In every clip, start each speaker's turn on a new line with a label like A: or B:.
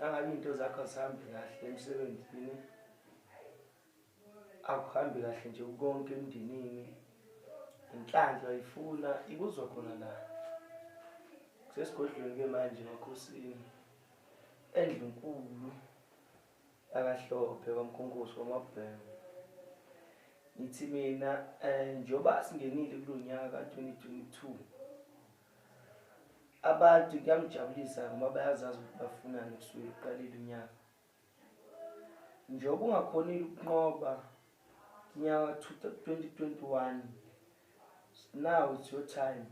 A: Angabe into zakho azihambi kahle emsebenzini. Akuhambi kahle nje konke emndenini. Inhlanhla ifuna ikuzwa khona la. Sesigodlweni ke manje makhosini. Endlunkulu akahlophe kwamkhonkosi wamabhemu. Ngithi mina eh njoba singenile kulonyaka 2022. Abantu kuyangijabulisa ngoba bayazazi ukuthi bafunani kusukela uqalile unyaka. Njengoba ungakhonile ukunqoba unyaka 2021 now it's your time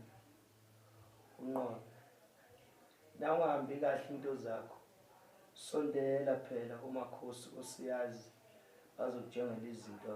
A: unqobe. Na ungahambi kahle into zakho sondela phela kumakhosi osiyazi bazokutshengela izinto.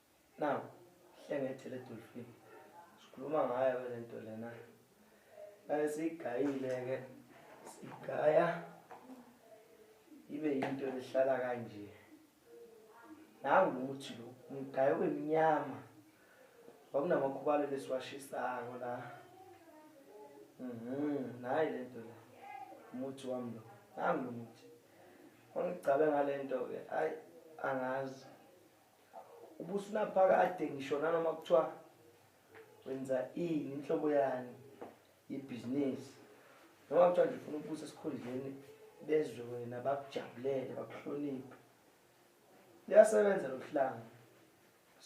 A: Now, hlengete le dolphin. Sikhuluma ngayo ke lento lena. Naye sigayile ke. Sigaya. Ibe into ehlala kanje. Nangu ukuthi lo umgayo wemnyama. Wakunamakhubalu lesiwashisayo la. Mhm, nayi lento la. Umuthi wami lo. Nangu umuthi. Ongicabe ngalento ke. Ay angazi. ubusunaphakade ngisho nanoma kuthiwa wenza ini inhlobo yani yebhizinisi noma kuthiwa nje ufuna ukubusa esikhundleni bezwe wena bakujabulele bakuhloniphe liyasebenza lokuhlanga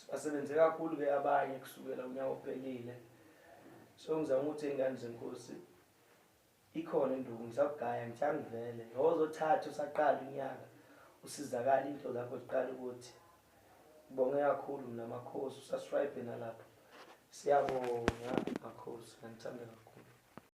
A: basebenze kakhulu ke abanye kusukela unyaka ophelile so ngizama ukuthi ingane zenkosi Ikhona induku ngisakugaya ngithanga vele ngozothatha usaqala unyaka usizakala into zakho ziqala ukuthi bonge kakhulu mina makhosi usasribe nalapho siyabonga makhosi ngithanda kakhulu